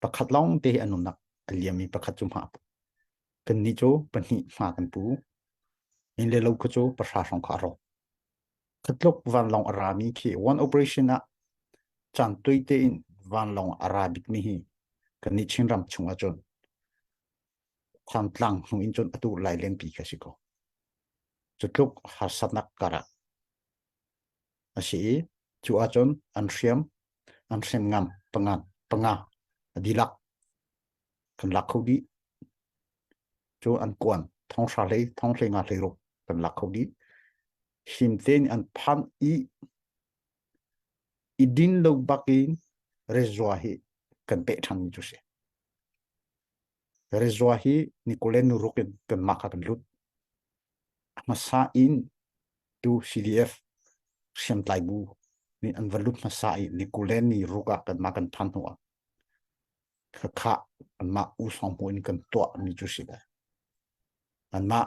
Pakhat lawngte an umnak a liammi pakhat cu hma a pu. Kannih cu pahnih hma kan pu. Inn le lo kha cu pahra hrawng kha a rawk. Khatluk vanlawng a rami khi one operation ah caan tuai tein vanlawng a ra bikmi hi kannih Chinram chungah cun thantlang hnu in cun atu lailenpi ka si ko. Cutluk harsatnak karah a si i cu ahcun an hriam an hriam ngam panga panga a dilak kan lak kho dih cu an kuan thong hra hlei thong hlei nga hlei ruk kan lak kho dih him te nih an phan i i din lo bak in rezua hi kan peh ṭhan mi cu si Rezua hi Nikolen ruk in Denmark ah kan lut. A hmasa in tu CDF hriamtlai bu nih an va lut hmasa i Nikolen ni ruk ah kanmah kan phan hnu ah khakhah anmah u songbu in kan tuah mi cu si lai. Anmah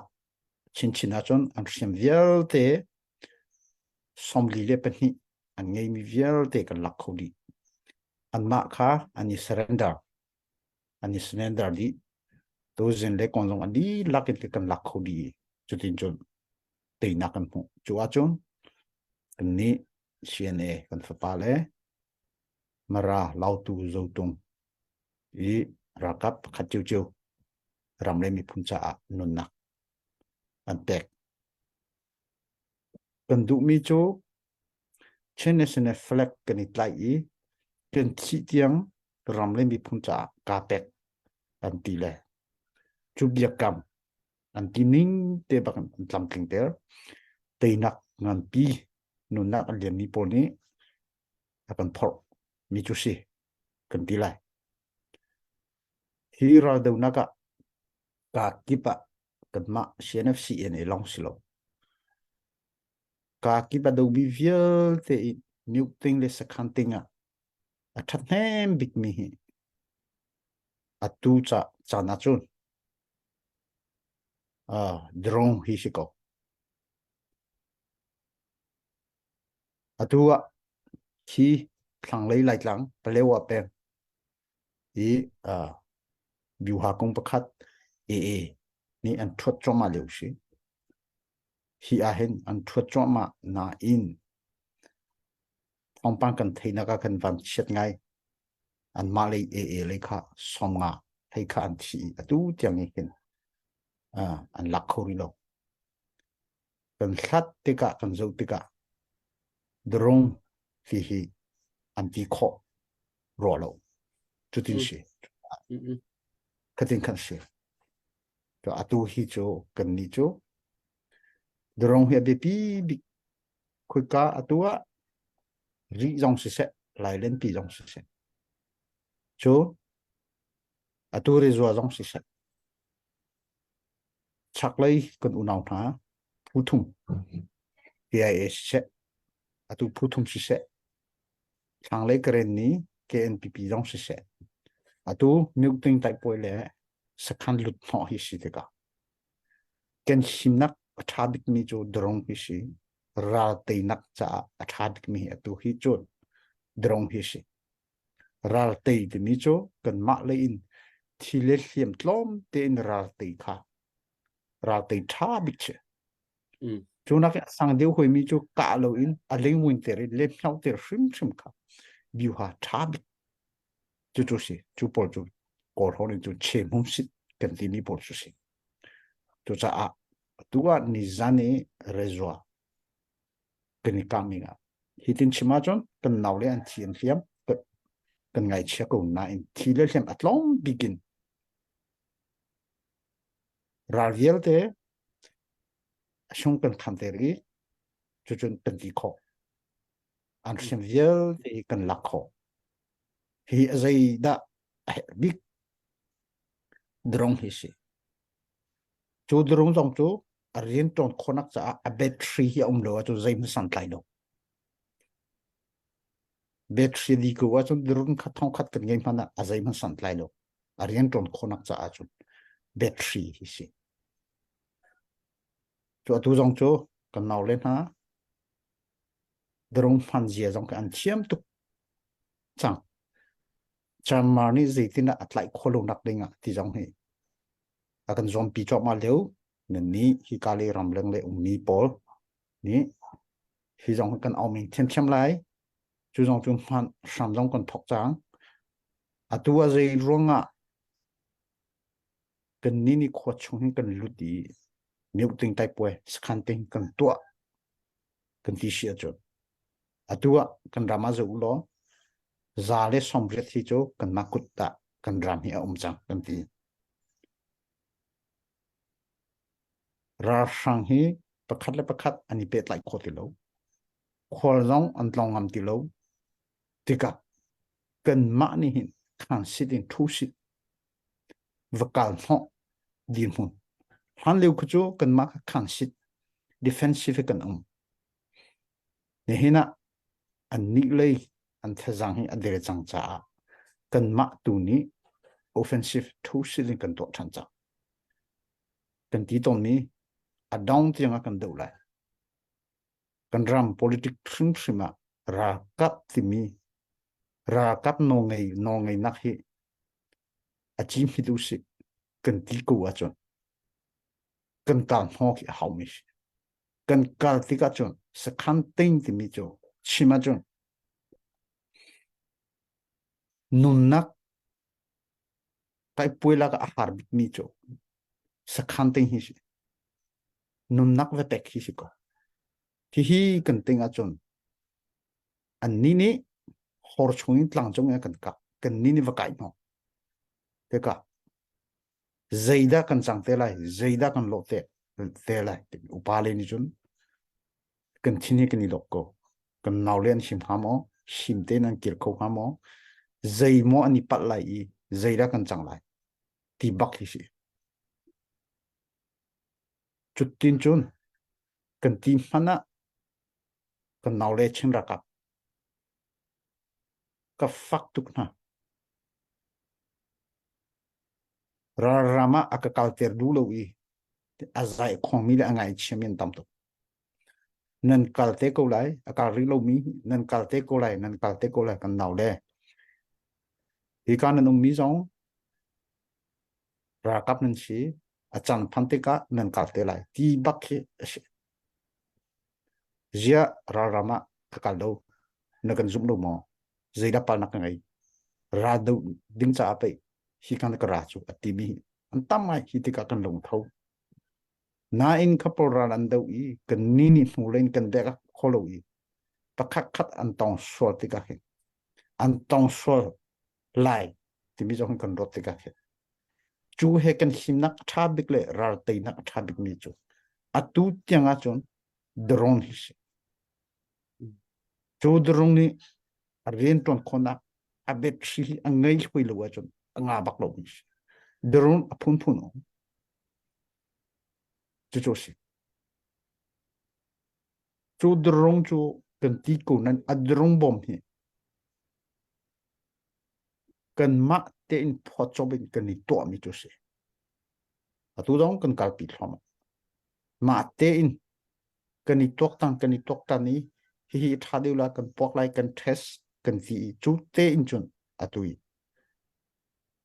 chinchin ahcun an hriam vialte somli le pahnih an ngei mi vialte kan lak kho dih. Anmah kha an i surrender. an i slander dih tuzin le kon zong an dihlak in kan lak kho dih cutin cun teinak kan hmuh cu ahcun kan nih CNA kan fapa le Mara Lautu Zotung i ralkap pakhat cio cio ram le miphun caah nunnak an pek Kan duhmi cu Chin National Flag kan i tlaih i kan thih tiang ram le miphun caah kaa pek an ti le cu biakam an ti ning te bak an tlamtlingter. Teinak nganpi nunnak an lianmi pawl nih a kan phorh mi cu si kan ti lai. Hi raldonak ah kaa kip ah kanmah CNFC in i long si lo. Ka kip a domi vialte i new thing le sakhan thing ah a that hnem bik mi hi a tu cha chan ah cun uh, drone hi si ko atu ah khi thlang lei lai tlang palewa peng i uh, byuha kong pakhat AA nih an thuat cuahmah lio si hi ah hin an thuat cuahmah nain thawngpang kan theihnak ah kan van chiat ngai an mah lei AA lei kha som nga hei kha an thi atu tiang hi hin uh, an lak kho rih lo kan hlat tikah kan zoh tikah drung hihi an ti khawh raw lo cutin si khatin kan si to atu hi cu kan ni cu drung hi a biapi bik khuika atu ah ri zong siseh lailen pi zong siseh cu atu rizua zong siseh Chaklei kan unau hna phu thum KIA siseh atu phu thum siseh thlanglei Karen ni KNPP zong siseh atu New Ting Taipuai le sakhan lut hnawh hi si tikah kan himnak a ṭha bikmi cu drone hi si ral teinak caah a ṭha bikmi hi atu hi cun drone hi si Raltei timi cu kanmah lei in thi le hliam tlawm tein raltei kha raltei ṭha bik si. Mm. Cu nak i a sang deu hoimi cu kah lo in a lengwin ter in le mhno ter hrimhrim kha biuha ṭha bik. Cu cu si, cu pawl cu kor hon in cu chem hum sit kan timi pawl cu si. Cucaah tu ah nizan i rezua kan i kang ning ah. Hi tin chim ahcun kan nau le an thi an hliam kan ngaichia ko nain thi le hliam a tlawm bikin ral vialte chung kan khan ter i cucun kan ti kho an hrim vialte kan lak kho hi azai da big drong hi si cu drong zong cu a rian ṭuan khawhnak caah a battery hi a um lo ahcun zeihmanh santlai lo. Battery di ko ahcun run khat thong khat kan ngei hmanh ah a zeihmanh santlai lo. A rian ṭuan khawhnak caah cun battery hi si. Cu atu zong cu kan nau le hna drong hman zia zong kan thiam tuk cang. Chinmar nih zeitinah a tlaih khawh lo nak ding ah ti zong hi a kan zuampi cuahmah lio nannih hi Kali ram leng le ummi pawl nih hi zong kan awming thiamthiam lai cu zong cu hman hram zong kan thok cang atu a zei ruangah kan ni ni khua chung hin kan lut i miu ting tai puai sakhan ting kan tuah kan ti si cu atu ah kan ram a zo lo za le somriat hi cu kan ma kut ta kan ram hi a um cang kan ti ralhrang hi pakhat le pakhat an i pet lai kho ti lo khual zong an tlong ngam ti lo tikah kan mah nih hin khang sit in thu sit va kal hnawh dirhmun. Hlanlio khu cu kanmah khan sit defensive kan um. Nihin ah an nih lei an thazang hi a der cang caah kanmah tu nih offensive thu sit in kan tuah ṭhan cang. Kan ti tawnmi a dong tiang a kan do lai. Kan ram politik hrimhrim ah ralkap timi ralkap nawngei nawngei nak hi a ci hmit u sih kan ti ko ahcun kan kar hnawk hi a hau mi si kan kar tik ahcun sakhan tein timi cu chim ahcun nunnak kai puilak a har bik mi cu sakhan tein hi si nunnak ve tek hi si ko hihi kan ting ahcun anni nih hor chung in tlang cung in kan kak kanni nih va kai hno teka zeidah kan cang te lai zeidah kan lawh te te lai upa le nih cun kan thin hi kan i lok ko kan nau le an him ha maw him te nan kir kho ha maw zei maw an i palh lai i zeidah kan cang lai ti bak hi si cutin cun kan ti hmanh ah Kan nau le Chin rakah ka fak tuk hna. Ralram ah a ka kalter du lo i a zai khongmi le a ngaichiami an tam tuk. Nan kal te ko lai, a kal rih lomi nan kal te ko lai, nan kal te ko lai kan nau le. Hi ka nan ummi zong rakap nan si, a can phan tikah nan kal te lai. Ti bak khi a si. Ziah ralram ah ka kal lo, na kan zumh lo maw? Zeidah palnak ka ngei? Ra do ding caah pei hi kan ka ra cu a timi an tam ngai hi tikah kan lungtho. Nain couple ral an do i kan ni nih hnu len kan dek a kho lo i pakhat khat an tong sual tikah hin an tong sual lai timi zong kan ruat tikah khi cu he kan himnak a ṭha bik le ralteinak a ṭha bikmi cu atu tiang ahcun drone hi si cu drone nih a rianṭuan khawhnak a battery hi a ngei hoi lo ahcun a nga bak lo mi si drone a phunphun um cucu si cu drone cu kan ti ko nan a drone bom hi kanmah tein phawtzawp in kan i tuahmi cu si. Atu zong kan kalpi thluahmah. Mah tein kan i tuaktan kan i tuaktan i hihi tha deuh la kan puak lai kan test kan ti i cu tein cun atu i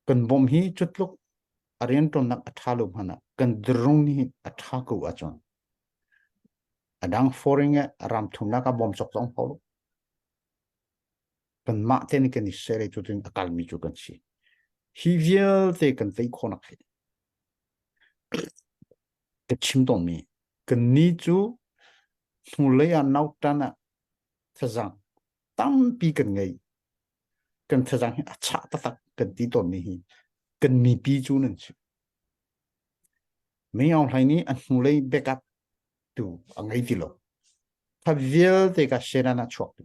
kan bom hi cutluk a riantuannak a tha lo hmana kan drong ni a tha ko ahcun adang foreign e ram thumnak a bom chok zong ho kanmah te nih kan i serei tu tin a kalmi cu kan si hi vialte kan tei khawhnak hi ka chim tawnmi kan ni cu hnulei ah nautan ah thazang tampi kan ngei kan thazang hi a chah taktak kan ti tawnmi hi kan mipi cu nan si mi aung hlai nih a hnulei backup tu a ngei ti lo kha vialte ka sena na chuak tu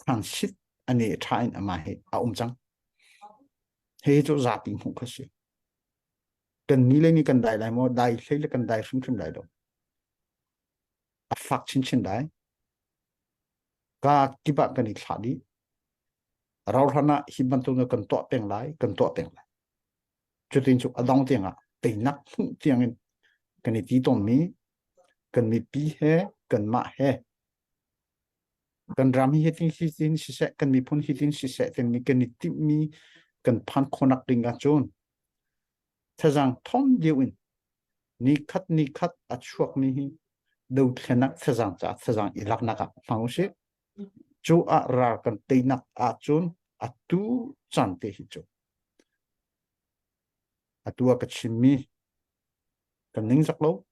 transit a ne tha in ama he a um cang he cu zapi hmuh kha si kan ni le ni kan dai lai maw dai hlei le kan dai hrimhrim lai do a fak chinchin dai ka kibah kan i thlah di rauhran ah hi bantuk kan tuah peng lai kan tuah peng lai cutin cu adong tiang ah teinak hmuh tiang in kan i ti ton mi kan mipi he kan mah he kan ram hi hitin hitin siseh kan miphun hitin siseh tenmi kan i timhmi kan phan khonak ding cun thazang thom deu in ni khat ni khat a chuak ni hi dothlenak thazang ca thazang i laknak ah hmang usih cu a ra kan teinak ah cun a tu chan te hi cu Atu a ka chinmi kan ning zak lo.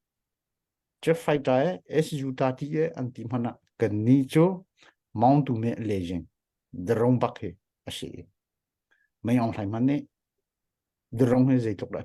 Jeff Fighter e SU ta ti e an ti hmana kan ni cu Mount Dume Lejing the rong bak hi a si. Mai ong hlai man nih the rong hi zeitluk dah